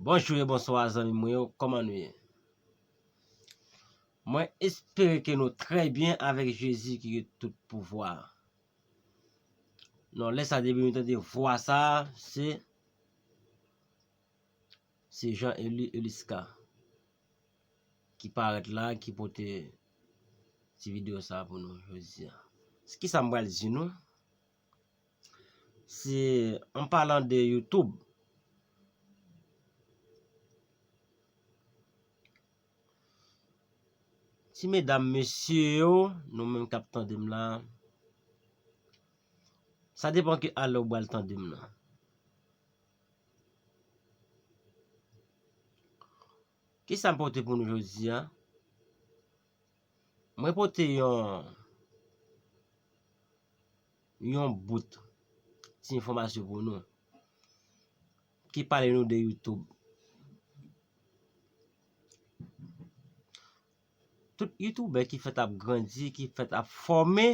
Bonjou e bonswa zanmi mwen yo, kòman nou ye? Mwen espere ke nou trè byen avèk Jezi ki gen tout pouvwa. Non lè sa depi m tande vwa sa se se Jean Élie Elisca ki parèt la ki pote ti video sa pou nou jodi a. Se kisa m pral di nou se an palan de youtube Ti medam mesye yo nou menm kap tandem la sa depan ki ale ou bal tandem nan ki sa m pote pou nou jodi a mwen pote yon yon bout ti enfòmasyon pou nou Ki pale nou de youtube. Tout youtube ki fèt ap grandi, ki fèt ap fòme,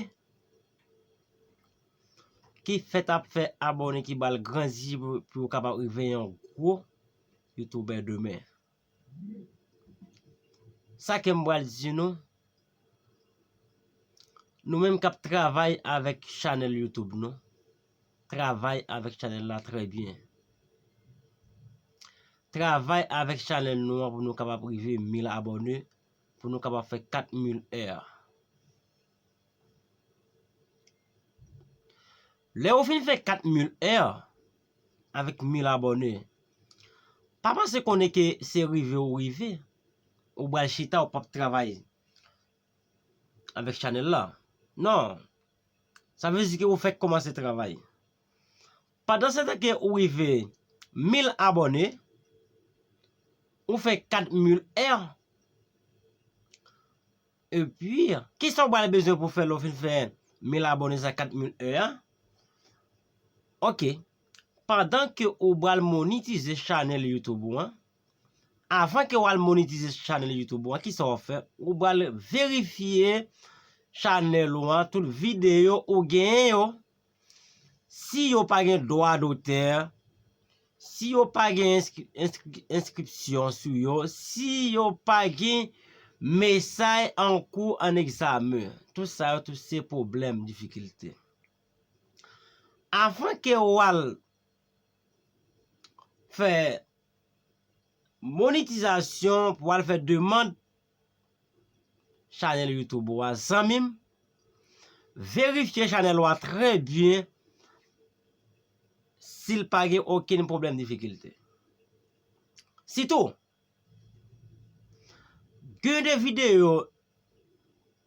ki fèt ap fè abòne ki bal gran zi pou yo kapab rive yon gwo youtube demen. Sa ke m pral di nou, nou menm k ap travay avèk chanèl YouTube nou, travay avèk chanèl la trè byen. Travay avèk chanèl nou an pou nou kapab rive 1000 abòne, pou nou kapab fè 4000 è. Lè ou fin fè 4 mil èr avèk mil abòne pa panse konnen ke se rive ou rive ou bal chita ou pap travay avèk chanèl la non sa vle di ke ou fèk kòmanse travay pandan setan ke ou rive mil abòne ou fè 4 mil èr Epi, kisa ou pral bezwen pou fè lè ou fin fè 1000 abonnés ak 4000 heures a? Ok, pandan ke ou pral monitize channel YouTube ou an, avan ke ou al monitize channel YouTube ou an, kisa wap fè? Ou pral verifye channel ou an, tout video ou genyen yo, Si yo pa gen dwa dotè, si yo pa gen enskripsyon sou yo, si yo pa gen mesay an kou an egzamen, tout sa yo tout se pwoblèm, difikilte. Avan ke ou al fè monitizasyon pou al fè demand Chanel YouTube ou a zanmim. Verifye chanel ou a trè byen sil pa gen okenn pwoblèm difikilte. Sitou, gen de videyo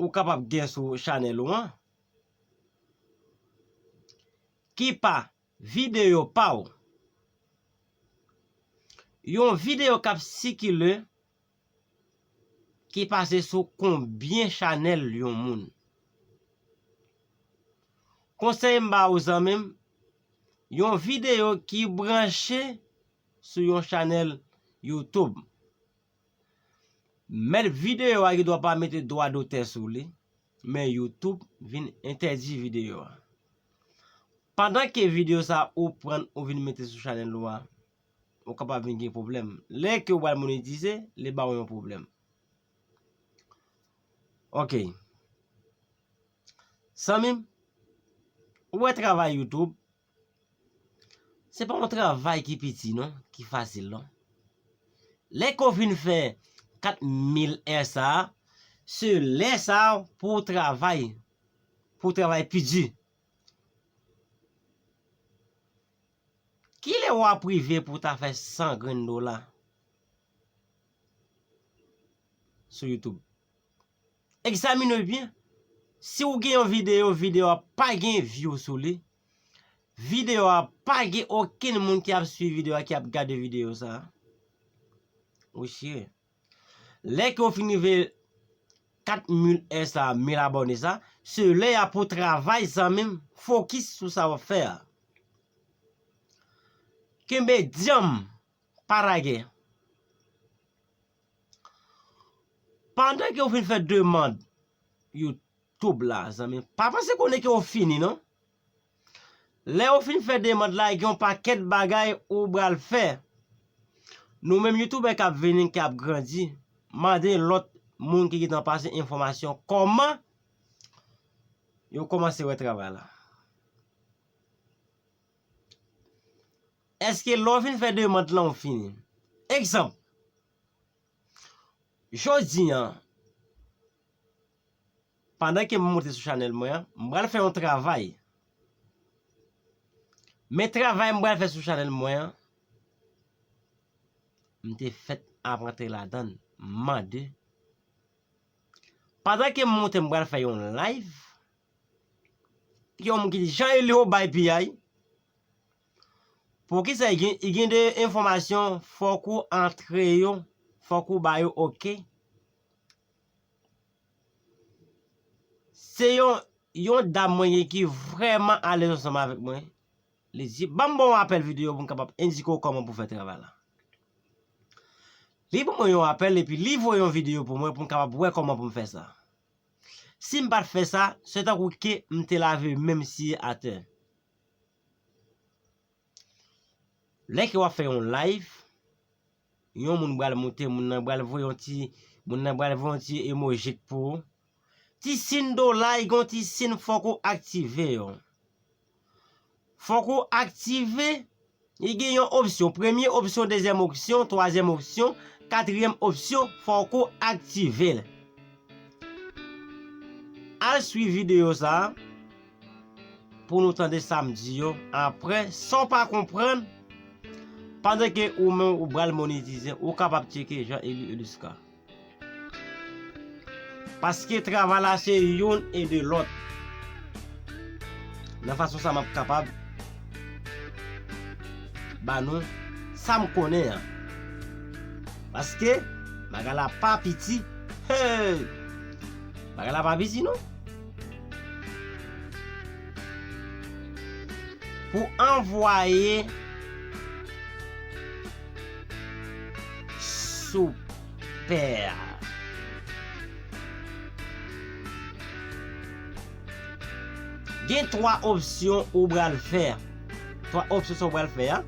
ou kapab gen sou chanel ou an ki pa videyo pa ou. Yon videyo kap sikile. ki pase sou konbyen chanèl yon moun. Konsèy m ba ou zanmi m, yon videyo ki branche sou yon chanèl youtube, mèt videyo a gendwa pa mete dwa dotè sou li, men youtube vin entèdi videyo a. Pandan ke videyo sa ou pran ou vin mete sou chanèl ou a, ou kapab vin gen pwoblèm. Lè ke ou pral monetize, li ba ou yon pwoblèm. Ok. Zanmi m, ou wè travay YouTube, se pa yon travay ki piti non, ki fasil non. Lè ke ou fin fè 4000 è sa, se lè sa pou ou travay, pou ou travay pi di. Kile wap rive pou ta fè 100 grenn dola sou youtube? Egzamine byen, si ou gen yon video, video a pa gen view sou li, video a pa gen okenn moun ki ap swiv video a ki ap gade video sa, ou chire. Lè ke ou fin rive 4 mil è sa, mil abòne sa, se lè ya pou travay zanmim, fokis sou sa wap fè a. Kenbe dyanm, pa lage. Pandan ke ou fin fè demand YouTube la zanmim, pa panse konnen ke ou fini non. Lè ou fin fè demand la gen yon pakèt bagay ou bal fè. Nou menm youtubè kap vini ki ap grandi mande lòt moun ki gentan pase enfòmasyon kòman yo kòmanse wè travay la. Eske lè ou fin fè demand lan ou fini? Egzanp, jodi an Pandan ke m monte sou chanèl mwen an, m pral fè yon travay. Men travay m pral fè sou chanèl mwen an, m te fèt ap rantre ladan, m mande. Pandan ke m monte m pral fè yon live, gen yon moun ki di, Jean Élie ou bay piyay, poukisa i gen de enfòmasyon fòk ou antre yo, fòk ou ba yo ok? Se yon yon dam mwen gen ki vrèman alèz ansanm avèk mwen. Li di, ban m ba w yon apèl videyo pou m kapab endike w kòman pou w fè travay la. Li ban mwen yon apèl epi li voye yon videyo pou mwen pou m kapab wè kòman pou m fè sa. Si m pa t fè sa, se tankou ke m te lave men m siye atè. Lè ke wap fè yon live, yon moun bal moute, moun nan bal voye yon ti, moun nan bal voye yon ti emojik pou ou. Ti sin do like yon ti sin fòk ou aktive yo. Fòk ou aktive, li gen yon opsyon, premye opsyon, dezyèm opsyon, twazyèm opsyon, katryèm opsyon, fòk ou aktivel. Al swiv video sa. pou nou tande sam di yo aprè sanw pa konprann pandan ke ou menm ou bal monetize ou kapab tcheke Jean Elie Eluscar paske travay la se youn e de lòt nan fason sa map kapab ba nou sam konnen an paske bagay la pa piti heyy bagay la pa piti non. Pou anvwaye Soupè a. Gen 3 opsyon ou bral fè. 3 opsyon sa ou bral fè a.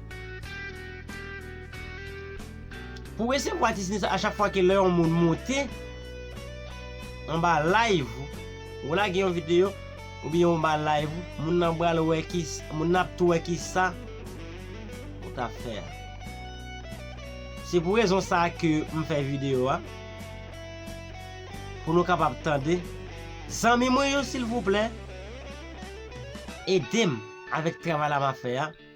Pou resevwa ti sinistre a chak fwa ke lè yon moun monte. Anba live ou, ou lage yon video oubyen anba live ou, moun nan pral wè ki, moun nan ap tou wè kisa ou ta fè a. Se pou rezon sa a ke m fè video a, pou nou kapab tande. Zanmi mwen yo silvouplè, ede m avèk travay la m ap fè a.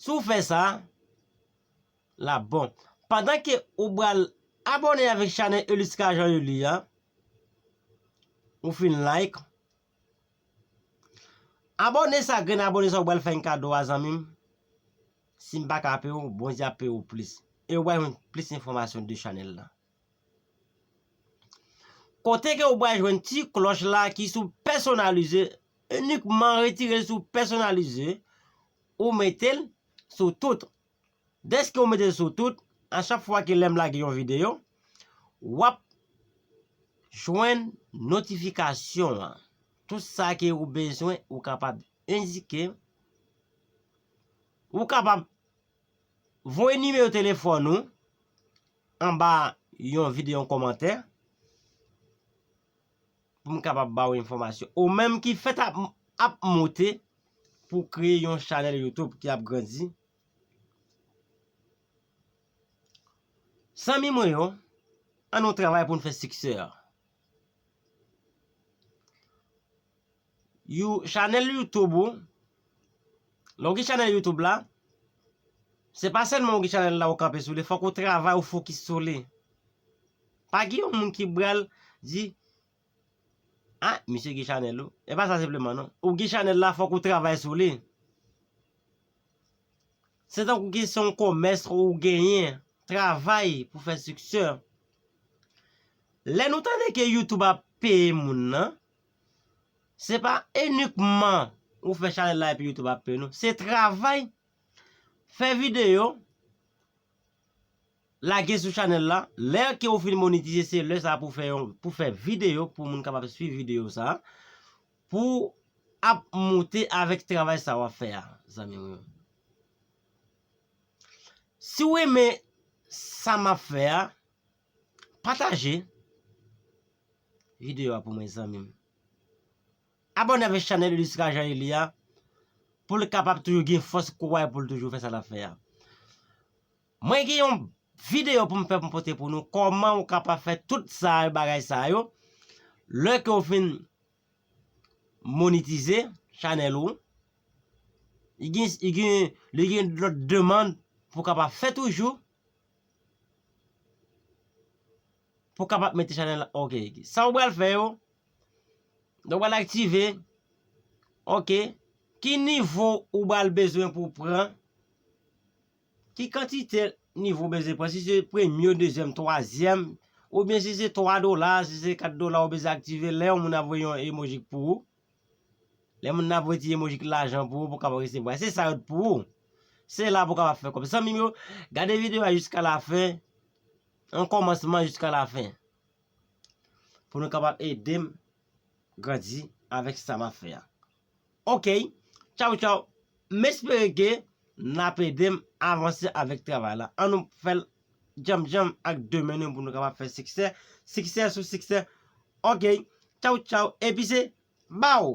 Si w fè sa, l ap bon. Pandan ke ou bal abone avèk chanè Eliska Jean Euly a, ou fin like. Abone sa grenn abone sa ou bal fè yon kado a zanmi m. Si m pa ka peye ou, Bondye ap peye ou plis. E ou bay yon plis enfòmasyon de chanèl la. Kote ke ou bay jwenn ti klòch la ki sou pèsonalize Inikman retirel sou pèsonalize ou metel sou tout. Deske ou metel sou tout, a chak fwa ke lèm lage yon video, wap jwenn notifikasyon an. Tout sa ke ou bezwen ou kapab endike. Ou kapab voye nimewo telefòn ou anba yon video yon komantè. pou m kapab ba ou enfòmasyon. Ou menm ki fèt ap moute pou w kreye yon chanèl YouTube ki ap grandi. Zanmi mwen yo, an nou travay pou n fè siksè a. You chanèl YouTube ou, lè w gen chanèl YouTube la, se pa sèlman w gen chanèl la ou kanpe sou li, fòk ou travay ou fokis sou li. Pa gen yon moun ki bral di ah misye gen chanèl ou. E pa sa senpleman non. Ou gen chanèl la fòk ou travay sou li. Se tankou ki se yon komès ou genyen. Travay pou fè siksè. Lè nou tande ke YouTube ap peye moun nan. Se pa inikman ou fè chanèl la epi YouTube ap peye non. Se travay, fè videyo. Lage sou chanèl la, lè ke ou fin monetize se lè sa pou fè yon, pou fè video pou moun kapab swiv video sa, pou ap moute avèk travay sa wap fè a zanmi mwen yo. Si w renmen sa map fè a, pataje video a pou mwen zanmi m. Abòne avèk chanèl Elisra Jean Élie a pou l kapab toujou gen fòs kouray pou l toujou fè sa lap fè a. Mwen gen yon video pou m fè pou m pote pou nou kòman ou kapab fè tout sa yo bagay sa yo lè ke ou fin monitize chanèl ou li gen li gen li gen lòt demand pou kapab fè toujou pou kapab mete chanèl la ok sa ou pral fè yo lè ou pral aktive ok ki nivo ou pral bezwen pou pran. Ki kantite nivo beze pran, si se premye, dezyèm, twazyèm, oubyen si se 3 dola, si se 4 dola ou beze aktive lè yon moun ap voye yon emojik pou ou. Lè moun nan ap voye ti emojik lajan pou ou pou kapab resevwa. Se sa yo t pou ou. Se la pou kapab fè kòb. Zanmim yo, gade video a jiska la fen, an kòmansman jiska la fen. Pou nou kapab edem grandi avèk sa map fè a. Ok tchaw tchaw m espere ke nap edem avanse avèk travay la an nou fèl djanm djanm ak de men nou pou nou kapab fè siksè siksè sou siksè ok tchaw tchaw epi se baw.